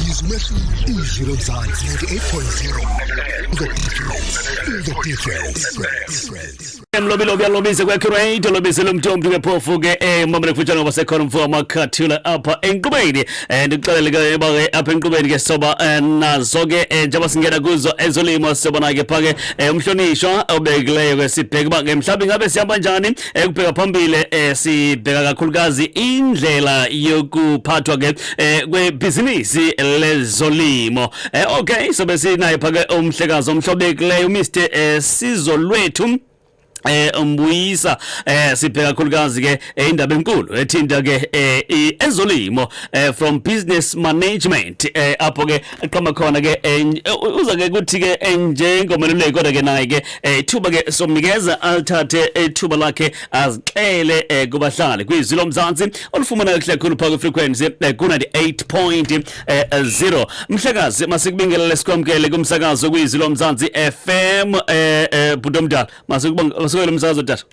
Yize umehluko izwi lomzansi 98.0 The difference The difference Mlobi lobi alobize kwa create lobize lomtombi ke phofu ke eh mama lekufutshana ngoba sekhona umfo amakhathula apha enqubeni eh ndixelele ke yeba ke apha enqubeni ke soba eh, nazo ke eh, njengoba singena kuzo ezolimo soba nake phake eh, umhlonishwa obekileyo ke sibheke ba ke mhlawumbe ngabe sihamba njani ekubheka phambili eh sibheka kakhulukazi indlela yokuphathwa ke eh kwebhizinisi lezolimo eh okay so besinaye phake umhlekazi omhlobekileyo Mr eh, Sizolwethu eh umbuyisa eh sibheka kakhulukazi ke eh, indaba enkulu ethinta ke eh, ezolimo eh, from business management eh apho ke qhoma khona ke eh, uza ke kuthi ke eh, njengomeluleki kodwa ke naye ke eh, thuba ke somnikeza alithathe ithuba lakhe azixele kubahlali kwizwi lomzantsi olufumana kuhle khulu phaa kwifrequency ku-98.0 mhlakazi masikubingelele sikwamkele kumsakazo kwizwi lomzantsi fm bhuti omdala masikubongele umsakazo tata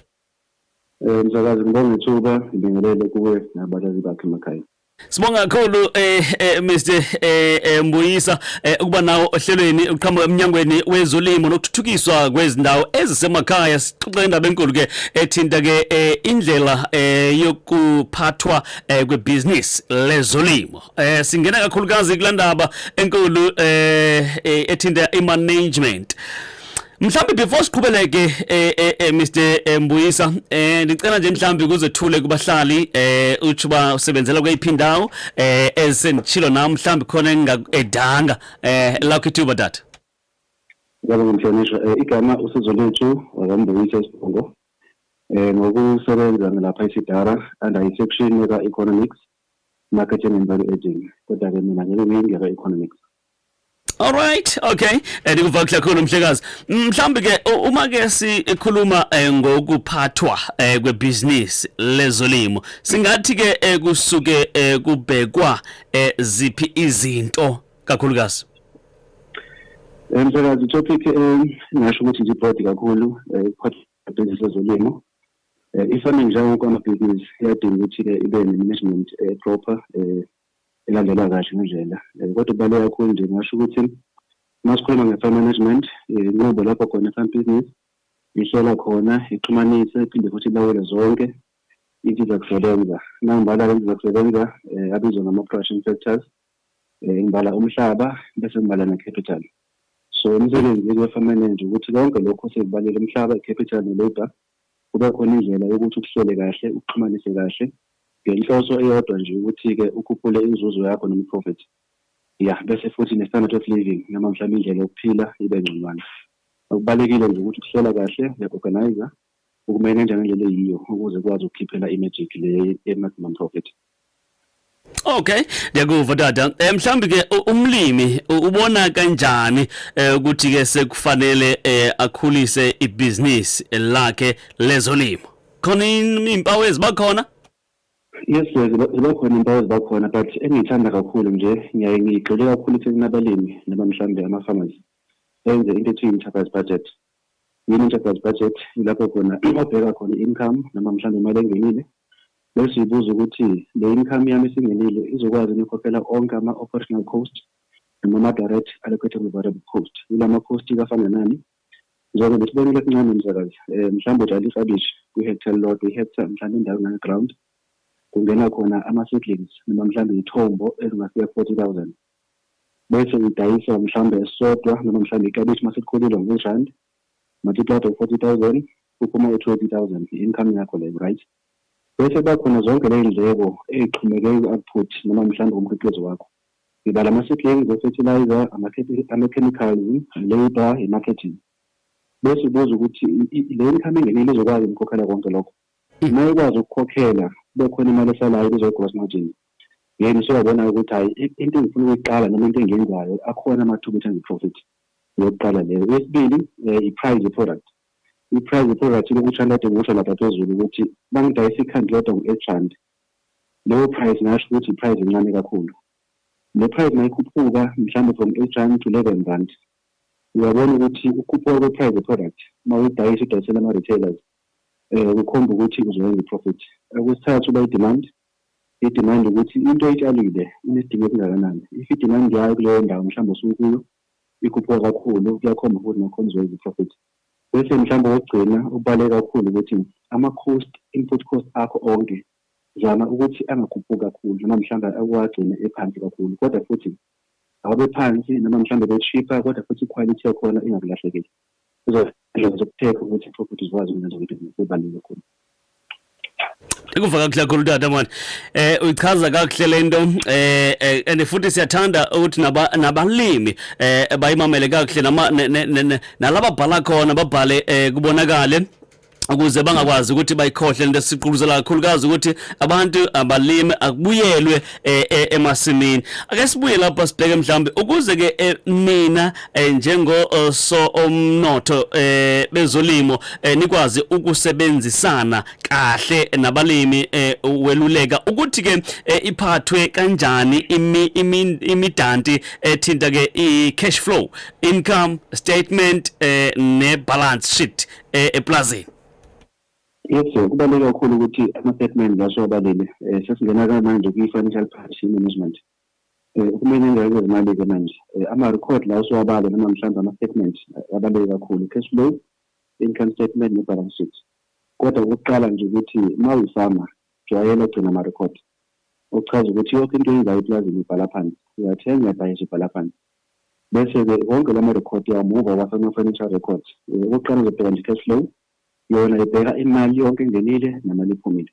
Eh msakazi ngibonga ithuba ngibingelele kuwe nabalaleli bakhe emakhaya. Sibonga kakhulu eh, eh Mr eh, eh Mbuyisa eh, ukuba nawo ohlelweni uqhamuka eminyangweni wezolimo nokuthuthukiswa kwezindawo ezisemakhaya sixoxe indaba enkulu ke ethinta ke eh, indlela eh, yokuphathwa eh, kwebusiness lezolimo eh, singena kakhulukazi kulandaba enkulu eh, eh, ethinta imanagement Mhlambi before siqhubeleke eh, eh, eh Mr eh, Mbuyisa eh ngicela nje mhlambi kuzethule kubahlali eh uthi ba usebenzela kweyiphi ndawo eh esendichilo na mhlambi khona engingakudanga eh la kithuba data Ngiyabonga ngimhlonishwa eh, igama usizo lethu wakamBuyisa Sibongo eh ngokusebenza lapha eSidara under section yaka economics marketing and value adding kodwa ke mina ngeke ngiyingeka economics Alright, okay. Eh, Ndikuvakile kakhulu mhlekazi. Mhlawumbi ke u- uma ke sikhuluma eh, ngokuphathwa eh, kwebhizinisi lezolimo, singathi ke eh, kusuke eh, kubhekwa eh, ziphi izinto kakhulukazi? Eh, Msakazi topic eh, ngingasho ukuthi nje broad kakhulu eh, ukuphatha business ezolimo Eh, ifana njengoba amabhizinisi iyadinga ukuthi-ke ibe ne-management eh, proper eh, elandelwa kahle ngendlela um kodwa kubaluleke kakhulu nje ngasho ukuthi uma sikhuluma nge-farm management inqubo lapho khona i-farm business ihlela khona ixhumanise iphinde futhi ilawule zonke insiza kusebenza nangibala insiza kusebenza um abizwa ngama-production factors um ngibala umhlaba bese ngibala ne-capital so umsebenzi we-farm manager ukuthi konke lokho sekubalele umhlaba i-capital ne-labour Kube khona indlela yokuthi ukuhlele kahle, ukuxhumanise kahle ngenhloso eyodwa nje ukuthi-ke ukhuphule inzuzo yakho noma i-profit. Yah, bese futhi ne-standard of living noma mhlawumbe indlela yokuphila ibe ngconywana. Okubalekile nje ukuthi ukuhlela kahle, uya-organiser, ukumeneja ngendlela eyiyo ukuze ukwazi ukukhiphela i-magic le ye-maximum profit. Okay, ngiyakuva tata. Eh mhlambi ke umlimi ubona kanjani eh, ukuthi ke sekufanele eh, akhulise ibusiness lakhe lezolimo. Khona impawu ezibakhona? Yes, ziba khona impawu eziba khona but engiyithanda kakhulu nje ngiyaye ngigxile kakhulu ekutheni abalimi noma mhlawumbe ama-farmers benze into ethi i-enterprise budget Yini enterprise budget ilapho khona obheka khona i-income noma mhlawumbe imali engenile bese uyibuza ukuthi le income yami esingenile izokwazi yini ukukhokhela onke ama-operational cost noma ama-direct allocatable variable cost. Yila ma-cost-ke afana nani? Njengoba sibonile esincane msakazi, um mhlawumbe utshala iklabishi kwi-hectare elilodwa, i-hectare mhlawumbe indawo engange-ground, kungena khona ama-seedlings noma mhlawumbe iy'thombo ezingafika ku-40,000. bese ngidayisa mhlawumbe esisodwa noma mhlawumbe ikabishi uma selikhulile ngo-100 rand multiplied of 40000 kuphuma u-20000 i-income yakho leyo right bese kuba khona zonke ley'ndleko ey'xhumeke ku-output noma mhlawumbe umkhiqizo wakho ngibala ama-seedlings o-fertilizer ama-chemicals i-labour i-marketing bese ubuza ukuthi le income engenile izokwazi ukukhokhela konke lokho uma ikwazi ukukhokhela kube khona imali esalayo kuzoyi-gross margin then usuyabona-ke ukuthi hhayi into engifuna ukuyiqala noma into engiyenzayo akhona amathuba ukuthi enze profit yokuqala leyo yesibili um i-price ye-product i-price ye-product lokutsha lade ngikusho lapha phezulu ukuthi bangidayisa ikhanti lodwa ngu-eight rand leyo price ngasho ukuthi i-price encane kakhulu le price mayikhuphuka mhlawumbe from eight rand to eleven rand uyabona ukuthi ukhuphuka kwe-price ye-product uma uyidayisa idayisela ama-retailers um kukhomba ukuthi uzoyenza i-profit okwesithathu uba i-demand Idimandi ukuthi into oyitshalile inesidingo esingakanani. If idimandi yayo kuleyo ndawo mhlawumbe osuke ukuyo ikhuphuka kakhulu, kuyakhomba futhi nakhona uzowenza iprofit. Bese mhlawumbe okokugcina okubaluleke kakhulu ukuthi ama-cost, input cost akho onke zama ukuthi angakhuphuki kakhulu noma mhlawumbe uwagcine ephansi kakhulu kodwa futhi awabe phansi noma mhlawumbe ebe cheaper kodwa futhi iquality yakhona ingakulahlekeli. izohlelo zokuphepha ukuthi property zikwazi ukwenza ukuthi kubaluleke kakhulu ikuva kakuhle kakhulu tata mani eh uyichaza kakuhle lento eh, eh and futhi siyathanda ukuthi nabalimi eh bayimamele kakuhle nalaba bhala khona babhale eh, kubonakale ukuze bangakwazi ukuthi bayikhohle into esiquluzela kakhulukazi ukuthi abantu abalime akubuyelwe eh, eh, emasimini ake sibuye lapha sibheke mhlawumbe ukuze ke eh, nina njengo so omnotho bezolimo nikwazi ukusebenzisana kahle nabalimi weluleka ukuthi ke iphathwe kanjani imidanti ethinta ke i cash flow income statement ne balance sheet eh, eplazini Yes sir, kubaluleke kakhulu ukuthi ama-statement lawa siwabalile um sesingena ke manje kwi-financial partnership management um kumele ingeke zimali-ke manje um ama-record lawa siwabale noma mhlawumbe ama-statement abaluleke kakhulu cash flow income statement ne-balance sheet kodwa ukuqala nje ukuthi uma uyifama jwayela ugcina ama-record okuchaza ukuthi yonke into eyenzayo eplazini ibhala phansi uyathenga uyabhayisa ibhala phansi Bese-ke wonke la marekhodi yawo muva uwasa kuma-financial records. Okokuqala uzobheka nje i-cash flow. Yona ibheka imali yonke engenile nemali ephumile.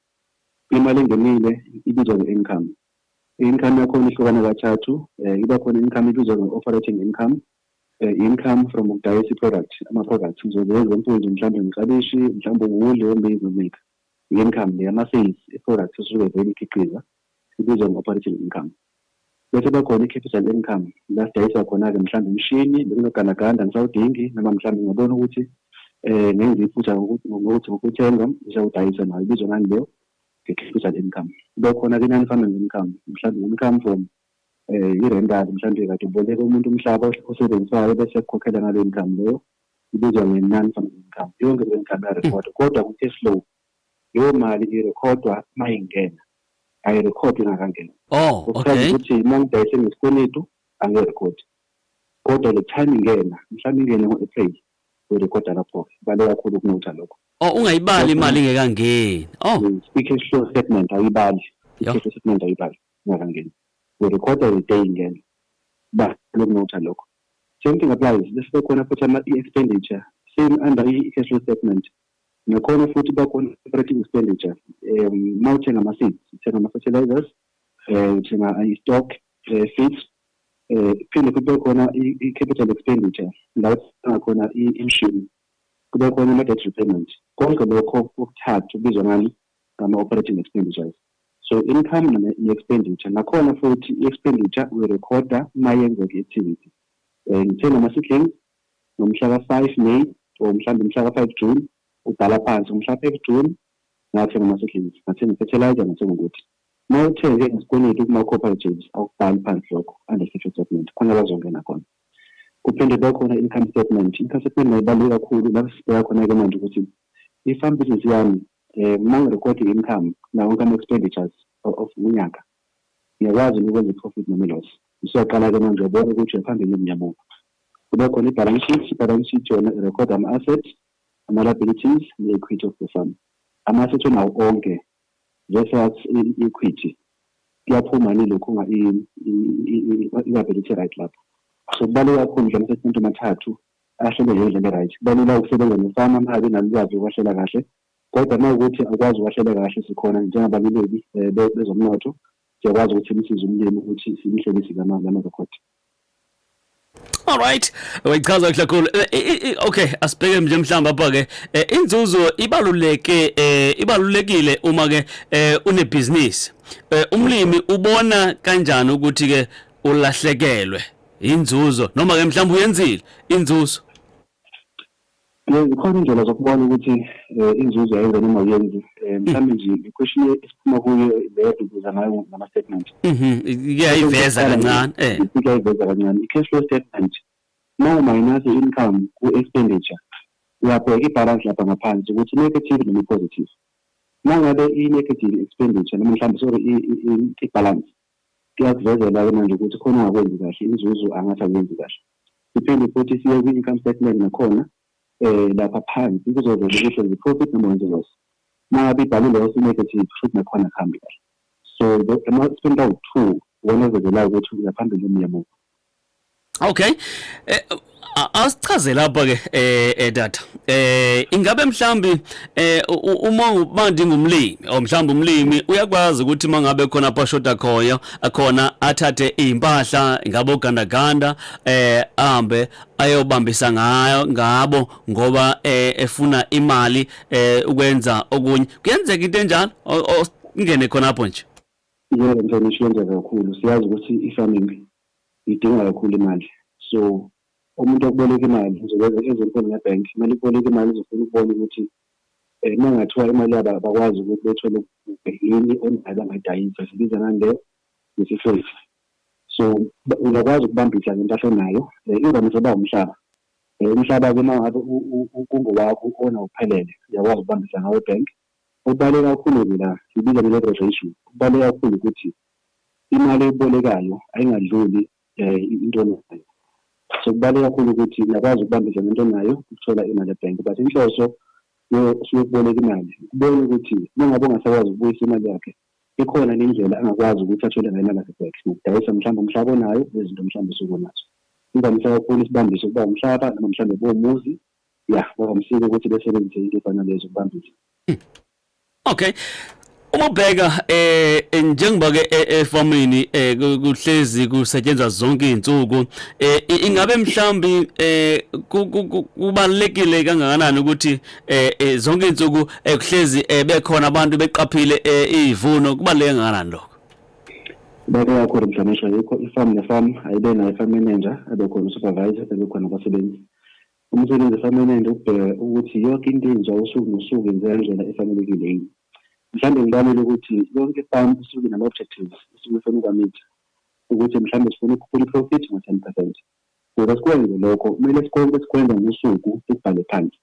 Imali engenile ibizwa nge-income. I-income yakhona ihlukana kathathu. Iba khona i-income ebizwa nge-operating income, i-income from ukudayisa i-product, ama-products. Ngizoze example nje mhlawumbe ngiklabishi, mhlawumbe uwuli, ummbila, i-income le yama-sales e-products esuke vele ikhiqiza. ibizwa nge-operating income. Bese kuba khona i-capital income la sidayisa khona-ke mhlawumbe umshini bekunogandaganda angisawudingi noma mhlawumbe ngiyabona ukuthi um ngenza iphutha ngokuthi ngokuthenga ngisawudayisa nayo ibizwa ngani leyo nge-capital income. Kuba khona-ke i-non farming income mhlawumbe income from um i-rental mhlawumbe kade uboleka umuntu umhlaba osebenzisayo bese ekukhokhela ngaleyo income leyo ibizwa nge-non farming income. Yonke leyo income iyarekhordwa kodwa kwi-cash flow Leyo mali irekhodwa uma ingena, ayirekhodwa ingakangeni. Oh, okay. Kuchaza ukuthi uma ngidayise ngesikweletu angirekhodi. Kodwa le time ingena, mhlawumbe ingene ngo-April, uyirekhoda lapho-ke. Bale kakhulu kunotha lokho. Oh, ungayibali imali ingekangeni. Oh. Mm, I-cash flow statement ayibali. Yho. I-cash flow statement ayibali ingakangeni. Uyirekhoda the day ingena. Bale kunotha lokho. Same thing applies. Bese kukhona futhi ama-expenditure. Same under i-cash flow statement. Nakhona futhi bakhona operating expenditures. Um mawuthenga ama seeds, uthenga ama fertilizers, eh uthenga i stock, eh feeds, eh phinde kube khona i capital expenditure la uthenga khona imshini. Kube khona ama debt repayment. Konke lokho kokuthathu kubizwa ngani ngama operating expenditures. So income ne expenditure nakhona futhi i expenditure we recorder mayenzeka activity. Eh ngithenga ama seedlings, ngomhla ka-five may or mhlawumbe umhla ka-five june ubhala phansi ngomhla ka-five june ngathenga ama-seedlings ngathenga i-fertilizer ngathenga ukuthi uma uthenge ngesikweletu kuma-cooperatives awukubhali phansi lokho under social statement khona bazongena khona kuphinde kube khona income statement income statement nayo ibaluleke kakhulu lapho sibheka khona-ke manje ukuthi i-farm business yami um uma ngirekhode i-income nawo konke ama-expenditures of unyaka Ngiyakwazi yini ukwenza i-profit noma i-loss? Usuyaqala ke manje uyabona ukuthi uya phambili noma uya muva. Kube khona i-balance sheet, i-balance sheet yona i-record ama-asset, ama-liabilities ne-equity of the fund. Ama-asset onawo onke versus i-equity kuyaphuma yini lokhu nga i-liability right lapho. So kubaluleke kakhulu nje ama-statement amathathu ahlelwe ngendlela e-right. Kuba lula ukusebenza nefama uma ngabe inalo ulwazi lokuwahlela kahle Kodwa uma ukuthi akwazi ukwahlela kahle sikhona njengabaluleki eh, bezomnotho siyakwazi ukuthi simsize umlimi ukuthi simhlelise lamarekhodi all right wayichaza kahle kakhulu eh, eh, eh, okay asibheke nje mhlawumbe apha ke inzuzo ibaluleke ibalulekile uma ke unebhizinisi umlimi ubona kanjani ukuthi ke ulahlekelwe inzuzo noma ke mhlawumbe uyenzile inzuzo Yebo, zikhona iy'ndlela zokubona ukuthi um inzuzo yayenza noma ayenzi um mm. mhlawumbe nje i-question esiphuma kuyo le edubuza ngayo ngama-statement mm-hmm. iyayiveza kancane eh. iyayiveza kancane i-cash flow statement uma umayinase i-income ku-expenditure uyabheka ibhalansi lapha ngaphansi ukuthi i-negative noma i-positive uma ngabe i-negative expenditure noma mhlawumbe sorry ibhalansi kuyakuvezela-ke manje ukuthi khona ungakwenzi kahle inzuzo angathi akuyenzi kahle Siphinde futhi siye kwi-income statement nakhona lapha phansi kuzovela ukuthi wenza i-profit noma wenza i-loss. Uma ngabe ibhalwe i-loss, i-negative, kushuthi nakhona akuhambi kahle. So ama-statement awu-two iwona avezelayo ukuthi uya phambili noma uya emuva. Okay. Asichazele lapha-ke data. Ingabe mhlawumbe eh uma uma ndingumlimi or mhlawumbe umlimi uyakwazi ukuthi mangabe khona pashoda khoyo akhona athathe impahla ngabo gandaganda eh ahambe ayobambisa ngayo ngabo ngoba eh, efuna imali eh, ukwenza okunye kuyenzeka into enjalo ngene khona lapho nje yebo mfana ishiyenzeka kakhulu siyazi ukuthi i-farming idinga kakhulu imali so Umuntu okuboleka imali uzokwenza ezinkulu ngebank kumele ukuboleka imali uzofuna ukubona ukuthi um uma kungathiwa imali yabo abakwazi ukuthi bethole yini onayo bangayidayisa sibiza ngani le ngesifesi so uyakwazi ukubambisa ngempahla onayo um imvamisa uba umhlaba um umhlaba-ke uma ngabe kungowakho ona uphelele uyakwazi ukubambisa ngawo ebank okubaluleke kakhulu-ke la sibiza nge-leverage ratio okubaluleke kakhulu ukuthi imali ebolekayo ayingadluli um into onayo so kubaluleke kakhulu ukuthi ngiyakwazi ukubambisana into onayo ukuthola imali ebhenki but inhloso siyokuboleka imali kubona ukuthi uma ngabe ungasakwazi ukubuyisa imali yakhe ikhona nendlela angakwazi ukuthi athole ngayo imali yakhe back ngokudayisa mhlawumbe umhlaba onayo nezinto mhlawumbe sukunazo imvamisa kakhulu isibambise ukuba umhlaba noma mhlawumbe bomuzi ya ngoba msike ukuthi besebenzise into efana lezo kubambisa hmm. Okay. Uma ubheka eh, eh njengoba ke eh, efamini eh, kuhlezi kusetshenzwa zonke izinsuku eh, ingabe mhlambi eh, kubalekile kangakanani ukuthi eh, zonke izinsuku kuhlezi bekhona abantu beqaphile izivuno kubaleke kangakanani lokho Beke yakho mhlonishwa yikho ifarm nefarm ayibe nayo farm manager abe khona supervisor abe khona abasebenzi Umsebenzi permanent ukubheka ukuthi yonke into enziwa usuku nosuku yenzeka ngendlela efanelekile yini. Mhlawumbe ngibalele ukuthi yonke farm isuke nama-objectives isuke ifuna ukwamitha ukuthi mhlawumbe sifuna ukukhuphula i-profit ngo-ten percent. Ukuze sikwenze lokho kumele sikonke sikwenza ngosuku sikubhale phansi.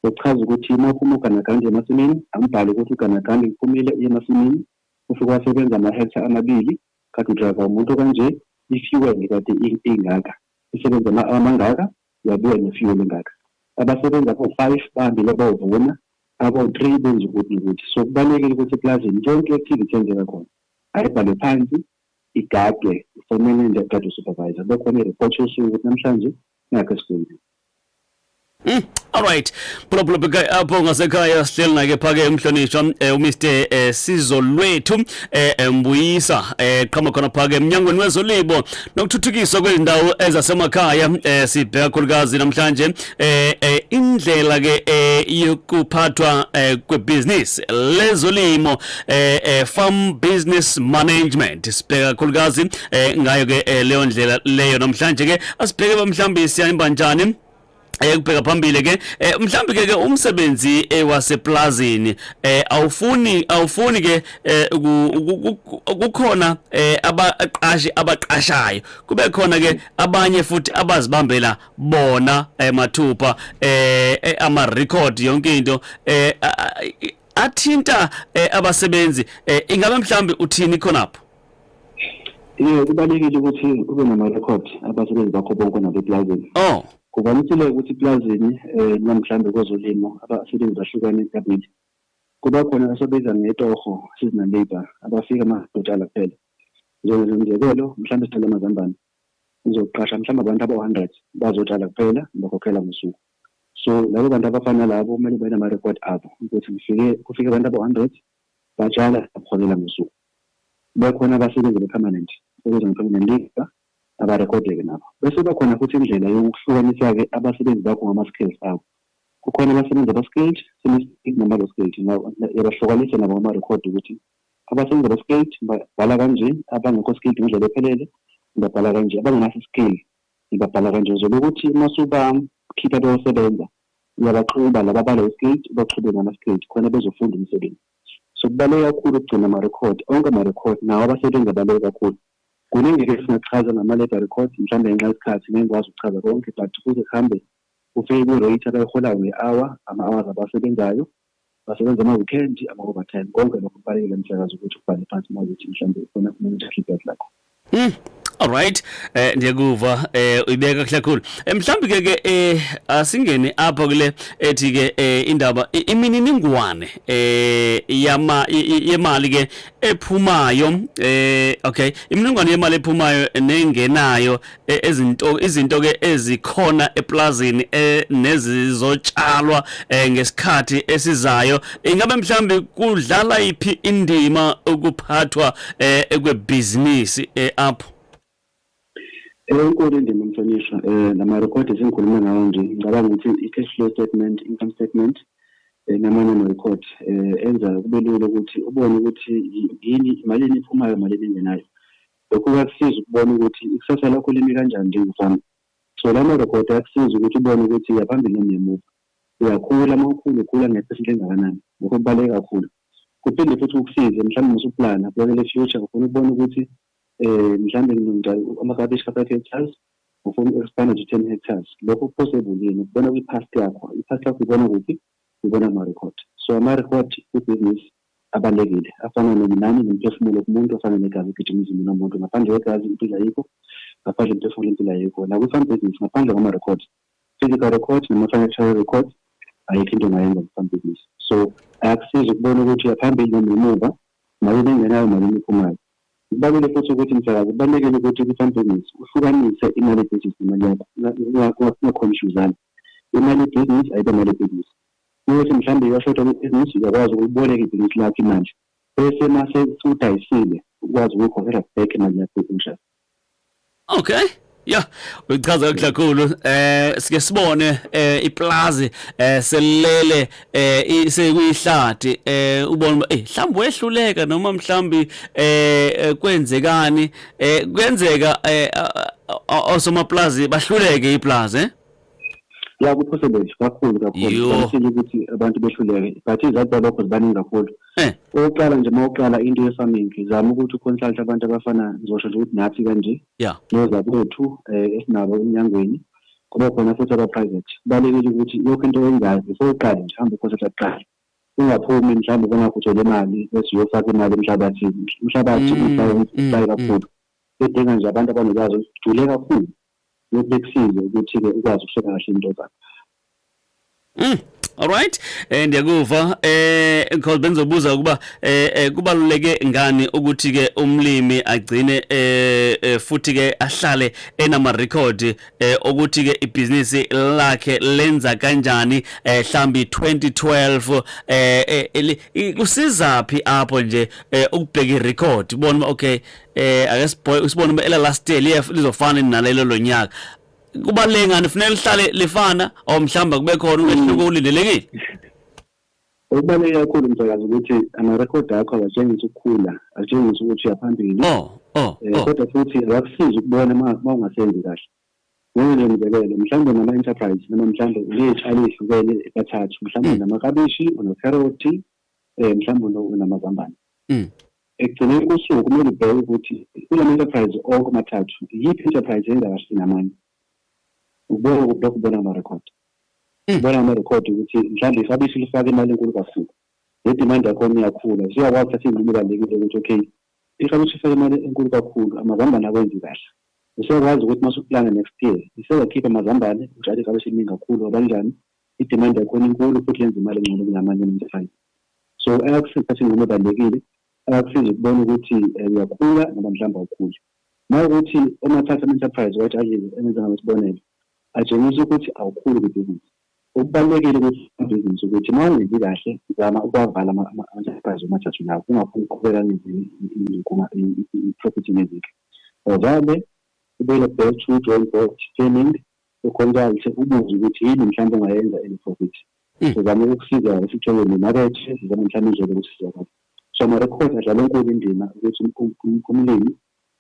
Okuchaza ukuthi uma uphuma uganaganda uye emasimini, angibhale ukuthi uganaganda uphumile uye emasimini, ufike wasebenza ama-hectare amabili, kade udrayiva umuntu okanje, i-fuel kade ingaka, isebenza ama-hour amangaka, Uyabuya ne fuel engaka. Abasebenzi abo five bahambile bayovuna, abo three benza ukuthi nokuthi. So kubalulekile ukuthi eplazini yonke activity eyenzeka khona ayibhalwe phansi, igadwe for manager, igadwe supervisor. Kube khona ireport yosuku ukuthi namhlanje nakhu esikwenzile. Umm alright. Phulaphula apho ngasekhaya sihleli nake phake emhlonishwa um eh, uMr eh, Sizo lwethu um eh, Mbuyisa um qhama khona phake emnyangweni wezolibo nokuthuthukiswa kwezindawo ezasemakhaya um sibheka khulukazi namhlanje um indlela ke um yokuphathwa um kwebhizinisi lezolimo um farm business management sibheka khulukazi um ngayo ke leyo ndlela leyo namhlanje ke asibheke mhlawumbe siyahamba njani ekubheka eh, phambili ke eh, mhlawumbe ke umsebenzi eh, waseplazini awufuni awufuni ke kukhona abaqashi abaqashayo kube khona ke abanye futhi abazibambela bona mathupha ama record yonke into athinta abasebenzi ingabe mhlawumbe uthini khonapho Yebo kubalekile ukuthi ube nama record abasebenzi bakho bonke nabeplazini. Oh. Kuvamisile ukuthi eplazini eh noma mhlambe kwezolimo abasebenzi bahlukane ecabinet. Kuba khona abasebenza ngetoho seasonal labor abafika amadotala kuphela. Njengezimzekelo mhlambe sithanda amazambane. Uzoqasha mhlambe abantu aba-100 bazotshala kuphela bakhokhela ngosuku. So labo bantu abafana labo kumele benama record abo ukuthi kufike kufike abantu aba-100 batshala baholela ngosuku. Bekhona abasebenzi be-permanent ebizwa nge-permanent labour abarekhodeke nabo. Bese kuba khona futhi indlela yokuhlukanisa-ke abasebenzi bakho ngama-skills abo. Kukhona abasebenzi aba-skilled, semi-skilled nabalo-skilled. Uyabahlukanisa nabo ngamarekhodi ukuthi abasebenzi aba-skilled ngibabhala kanje, abangekho skilled ngendlela ephelele ngibabhala kanje, abangenaso i-skill ngibabhala kanje. Uzobe ukuthi uma usubakhipha beyosebenza uyabaxuba laba abalo-skilled ubaxube naba-skilled khona bezofunda umsebenzi. So kubaluleke kakhulu ukugcina amarekhodi, onke amarekhodi nawo abasebenzi abaluleke kakhulu. Kuningi ke esingakuchaza ngama-labour records, mhlawumbe ngenxa yesikhathi ngeke ngikwazi ukuchaza konke but kuze kuhambe kufike kwi-rate abayiholayo nge-hour, ama-hours abasebenzayo, basebenza ama-weekend, ama-overtime, konke lokho kubalulekile mhlekazi ukuthi ukubhale phansi uma ukuthi mhlawumbe khona umuntu akhiphe lakho. Mm. Alright eh ndiyakuva eh uyibeka kuhle kakhulu eh, mhlawumbi ke ke eh asingene apha kule ethi ke eh, indaba imininingwane eh yama yemali ke ephumayo eh okay imininingwane yemali ephumayo nengenayo eh, ezinto izinto ke ezikhona eplazini eh, nezizotshalwa ngesikhathi esizayo ingabe mhlawumbi kudlala iphi indima ukuphathwa eh ekwebhizinisi eh apho enkulu indima mhlonishwa um nama-record esengikhulume ngawo nje ngicabanga ukuthi i-cash flow statement income statement um namanye ama-record um enza kube lula ukuthi ubone ukuthi yini imalini iphumayo malini engenayo lokho kuyakusiza ukubona ukuthi ikusasa lakho limi kanjani njengefama so la ma-record ayakusiza ukuthi ubone ukuthi uyaphambili noma uyamuva uyakhula uma ukhula ukhula ngephesenti engakanani lokho kubaluleke kakhulu Kuphinde futhi kukusize mhlawumbe uma usuplana kubekela i-future ufuna ukubona ukuthi um mhlawumbe ngilungisa amakabishi ka-five hectares ufuna uku-expanda to ten hectares lokho ku-possible yini ukubona kwi-past yakho i-past yakho ibona kuphi ibona kuma-record so ama-record kwi-business abalulekile afana nominani nomphefumulo kumuntu afana negazi ogijima emzimbini womuntu ngaphandle kwegazi impilo ayikho ngaphandle mphefumulo impilo ayikho nakwi-farm business ngaphandle kwama-records physical record noma financial record ayikho into ongayenza mfambibisi so ayakusiza ukubona ukuthi uyaphambili noma emuva mali bengenayo mali emiphumayo kubaluleke futhi ukuthi msakazi kubalulekile ukuthi kwi-fambibisi uhlukanise imali ebhizinisi nemali yakho ungakhomishuzana imali ebhizinisi ayibe mali ebhizinisi ukuthi mhlawumbe iyashoda kwibhizinisi uyakwazi ukuboleka ibhizinisi lakho imanje bese mase udayisile ukwazi ukuyikhokhela back imali yakho ekushayo Okay. Ya, uchaza kahle kakhulu. Eh sike sibone eh iplazi eh selele eh sekuyihlathi eh ubona eh mhlawumbe wehluleka noma mhlawumbe eh, eh kwenzekani eh kuyenzeka eh osomaplazi bahluleke iplazi eh ya kuphoselele kakhulu kakhulu kanisile ukuthi abantu behluleke but izathu zalokho zibaningi kakhulu eh. okokuqala nje uma uqala into ye-farming zama ukuthi uconsulte abantu abafana ngizosho nje ukuthi nathi kanje nozakwethu um eh, esinabo emnyangweni kuba khona futhi aba-private kubalulekile ukuthi yokho into oyenzayo before uqale nje hambe uconsulte kuqala ungaphumi mhlawumbe kungakho uthole imali bese uyofaka imali emhlabathini umhlabathi usaye mm, mm, mm. kakhulu edinga nje abantu abanolwazi olujule kakhulu Lokhu kusize ukuthi-ke ukwazi ukuhlela kahle into zakho. Mm. Alright eh ndiyakuva eh because bengizobuza ukuba eh, eh kubaluleke ngani ukuthi ke umlimi agcine eh, eh futhi ke ahlale enama record eh ukuthi ke ibusiness lakhe lenza kanjani eh hlambi 2012 eh, eh kusiza phi apho nje eh, ukubheka irecord ubona okay eh ake sibhoye sibone uma ela last year liye lizofana nalelo lonyaka kubaleke ngani kufanele lihlale lifana or mhlamba kube khona umehluko ulindelekile okubaluleke kakhulu msakazi ukuthi ama-rekhodi akho awatshengisa ukukhula atshengisa ukuthi uyaphambili oh, oh, eh, oh. kodwa futhi awakusizi ukubona uma ungasenzi kahle ngenye nje mzekelo mhlawumbe nama-enterprise noma mhlawumbe uney'tshalo ey'hlukene bathathu mhlawumbe hmm. namakabishi unokherothi um mhlawumbe unamazambane mm. ekugcineni kosuku kumele ubheke ukuthi kula ma-enterprise onke amathathu yiphi enterprise engakashini amanye ubona lokho ubona amarekhodi mm. ubona amarekhodi ukuthi mhlawumbe ifabishi lifake imali enkulu kakhulu ne-demand yakhona iyakhula siyakwazi thatha iy'nqumo ebalulekile ukuthi okay ifabishi ifake imali enkulu kakhulu amazambane akwenzi kahle useyakwazi ukuthi uma usuplana next year isezakhipha amazambane utshale ifabishi eliningi kakhulu ngoba njani idemand yakhona inkulu futhi yenza imali engcono kunamanye ama-enterprise so ayakusiza ukuthi ingoma ebalulekile ayakusiza ukubona ukuthi eh, uyakhula ngoba mhlawumbe awukhuli nawukuthi omathatha ama-enterprise wathi azize engenza ngalo sibonelo atshengisa ukuthi awukhuli kwibhizinisi okubalulekile ukuthi ibhizinisi ukuthi uma ungenzi kahle zama ukuwavala ama-enterprise omathathu lawo ungafuni ukuqhubeka i-property nezinto ovale ubuyele back to drawing board scamming uConsults ubuze ukuthi yini mhlawumbe ongayenza in profit. Sizama ukukusiza isithole nemakethe, sizama mhlawumbe indlela yokusizakala. So ama-record adlala enkulu indima ukuthi umlimi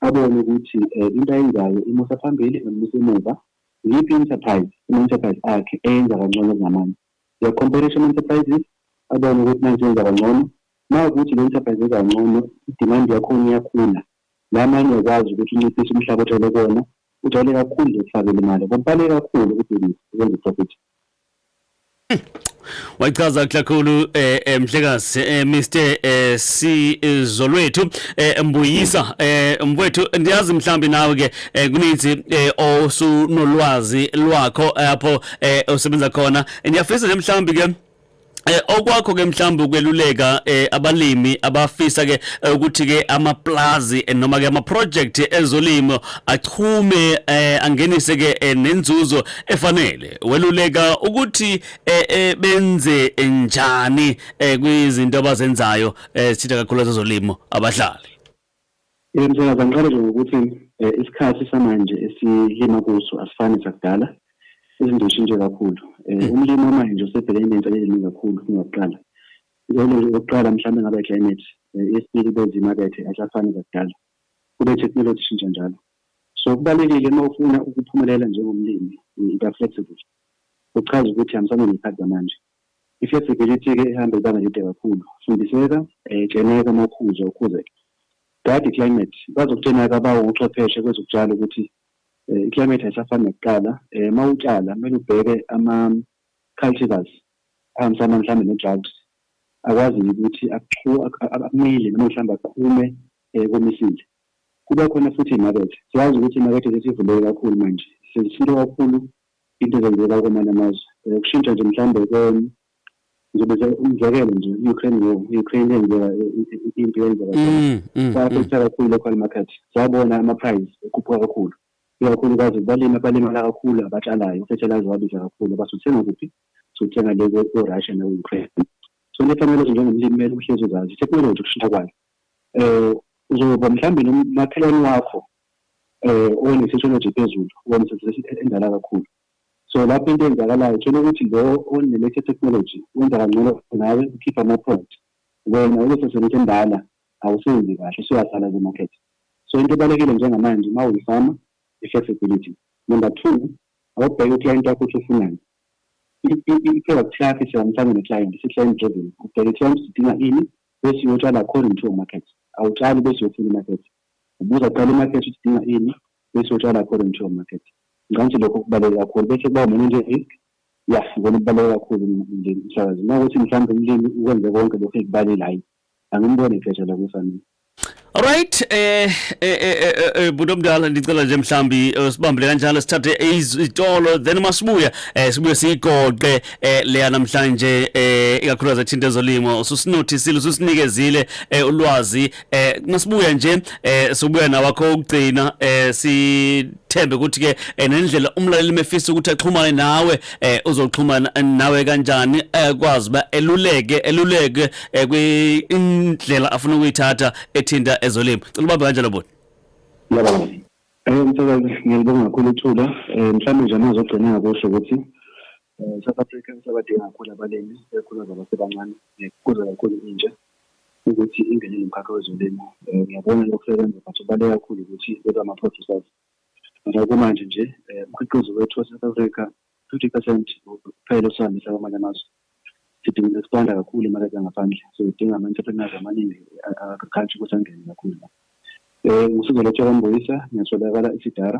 abone ukuthi into ayenzayo imusa phambili noma imusa emuva. Iyiphi i-enterprise, ama-enterprise akhe eyenza kangcono kunamanye. Uya-compare-isha ama-enterprises, abone ukuthi nansi yenza kangcono. Uma kuwukuthi le-enterprise yenza kangcono, i-demand yakhona iyakhula, La manye ukwazi ukuthi unciphise umhlaba ojwayele kuwona, ujwayele kakhulu nje ukufakela imali ngoba ubaluleke kakhulu kubhizinisi ukwenza iprofit. wayichaza kakhulu eh, eh mhlekazi eh, Mr eh, Sizolwethu eh, Mbuyisa eh, mfowethu ndiyazi mhlambi nawe ke eh, kuninzi eh, osunolwazi lwakho apho eh, osebenza khona ndiyafisa nje mhlambi ke Eh okwakho ke mhlawumbe ukweluleka eh abalimi abafisa ke eh, ukuthi ke amaplazi eh, noma ke ama project ezolimo achume eh angenise ke eh, nenzuzo efanele weluleka ukuthi eh, eh benze njani eh kwizinto abazenzayo eh sitha kakhulu ezolimo abahlali Yebo msakazi, angiqale nje ngokuthi isikhathi samanje esilima kuso asifani nesakudala. Izinto zishintshe kakhulu. Umlimi wamanje usebhekene ney'nselelo eziningi kakhulu kunakuqala. Inselelo nje yokuqala mhlawumbe kungaba i-climate. Eyesibili kube izimakethe azisafani zakudala. Kube i-technology ishintsha njalo. So kubalulekile uma ufuna ukuphumelela njengomlimi, uba flexible. Okuchaza ukuthi hambisana ney'khathi zamanje. I-flexibility-ke ihamba ibanga elide kakhulu. Fundiseka, Xeneka uma ukhuza, ukhuzeke. Dade i-climate, kwazi okuthena ke abawuchwepheshe kwezokutshala ukuthi i-climate ayisafani nakuqala. Uma utshala kumele ubheke ama-cultivars ahambisana mhlawumbe ne-drought akwaziyo ukuthi amile noma mhlawumbe aqhume komisile. Kuba khona futhi imakethe. Siyazi ukuthi imakethe sesivuleke kakhulu manje, sesithinta kakhulu Into ezenzeka kwamanye amazwe ukushintsha nje mhlawumbe koni ngizobeza umzekelo nje i-Ukraine war i-Ukraine yenzeka impi yenzeka mm, mm, kwafektha mm. kakhulu local market sabona ama-price ekhuphuka kakhulu ikakhulukazi balimi abalimala kakhulu abatshalayo ufethelayiza wabiza kakhulu basuthenga kuphi suthenga le ko-russia naku-ukraine so nefanele ukuthi njengomlimi kumele uhlezi uzazi i-technology ukushintsha kwayo um uzoba mhlawumbe nomakhelwane wakho um one-sociology ephezulu, one-sociology endala kakhulu. So lapho into eyenzakalayo thola ukuthi lo one-latest technology wenza kangcono nawe ukhipha ama-product. Wena ubesesemntu endala awusenzi kahle usuyasala kwi-market. So into ebalulekile njengamanje uma uyifama i-flexibility. Number two, awubheke uclient wakho ukuthi ufunani. I-product yakho isihambisane ne-client, isi-client driven. Ubheke i-client ukuthi idinga ini bese uyotshala according to your market. Awutshali bese uyofuna i-market. Ubuza kuqala imarket ukuthi idinga ini bese utshala according to your market. Ngicabanga ukuthi lokho kubaluleke kakhulu bese kuba umanage risk. Ya, ikona okubaluleke kakhulu umlimi umsakazi. Uma ukuthi mhlawumbe umlimi ukwenze konke lokho ekubalile hhayi angimboni iphetha la kufanele. Alright eh eh eh, eh, eh, eh budo mdala ndicela nje mhlambi sibambile kanjalo sithathe izitolo then masibuya eh sibuye sigoqe eh leya namhlanje eh ikakhulukazi ethinta ezolimo ususinothisile ususinikezile ulwazi eh masibuya nje eh sobuya nawakho ukugcina eh sithembe ukuthi ke eh, nendlela umlaleli mefisa ukuthi axhumane nawe eh uzoxhumana nawe kanjani ekwazi eh, ba eluleke eluleke eh, kwindlela afuna ukuyithatha ethinta ezolimo cela ubambe kanjalo bhuti yebo eh msebenzi ngiyabonga kakhulu ithula eh mhlawumbe nje amazogcina ngakusho ukuthi Eh, South Africa isabadinga kakhulu abalimi ikakhulukazi abasebancane eh, kuza kakhulu intsha ukuthi ingene nomkhakha wezolimo Eh, ngiyabona lokusebenza but kubaluleke kakhulu ukuthi bebe ama-producers ngoba kumanje nje eh, umkhiqizo wethu wase-south africa fifty percent kuphela osihambisa kwamanye amazwe sidinga expanda kakhulu imakethe yangaphandle so idinga ama-entrepreneurs amaningi agriculture ukuthi angene kakhulu la um ngisuke letsha kwambuyisa ngiyatholakala isidara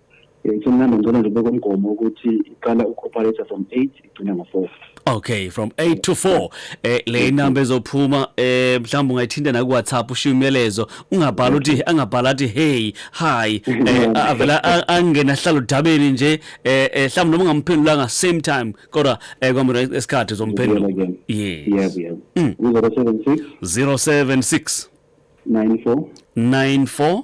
Eh, Somnandi ngicela nje ubeke umgomo ukuthi iqala uku-operator from 8 igcina ngo-4. Okay, from 8 to 4. Eh le inamba ezophuma eh mhlawumbe ungayithinta na ku WhatsApp ushiya umyalezo, ungabhala uthi angabhala athi hey, hi, eh a- avela a- angena hlala udabeni nje eh eh, mhlawumbe noma ungamphendulanga same time kodwa eh kwamina esikhathi uzomphendula. Yebo, Yes. yebo. Mm. Kuzoba 76 076 94 94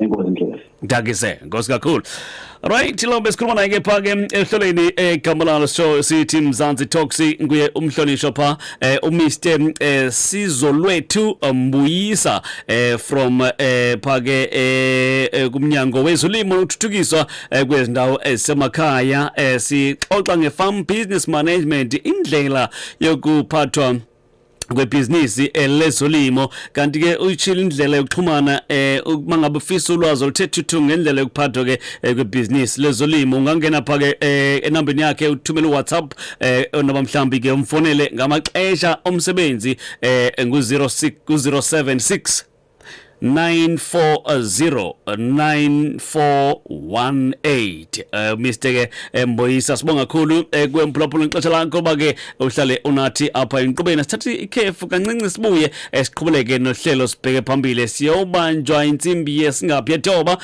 enkosi ndlovu ngidakise nkosi kakhulu right lo besikhuluma naye ke pha ke ehlelweni egambalala show sithi mzansi toxi nguye umhlonishwa pha eh, umr eh, sizolwethu eh, mbuyisa eh, from eh, pha ke eh, eh, kumnyango wezolimo nokuthuthukiswa eh, kwezindawo ezisemakhaya eh, sixoxa nge-farm business management indlela yokuphathwa kwebhizinisi eh, lezolimo kanti ke uyishila indlela yokuxhumana eh uma ngabe ufisa ulwazi oluthe thuthu ngendlela yokuphathwa ke eh, kwebhizinisi lezolimo ungangena pha ke eh, enambeni yakhe uthumele WhatsApp eh, noma mhlambi ke umfonele ngamaxesha omsebenzi eh ngu 06 ku 076 940948 uh, Mr ke eh, Mboyisa sibonga kakhulu uh, eh, kwemphulaphula ngexesha lakho ba ke uhlale unathi apha enqubeni sithathe ikhefu kancinci sibuye eh, siqhubeleke nohlelo sibheke phambili siyobanjwa insimbi yesingaphi yethoba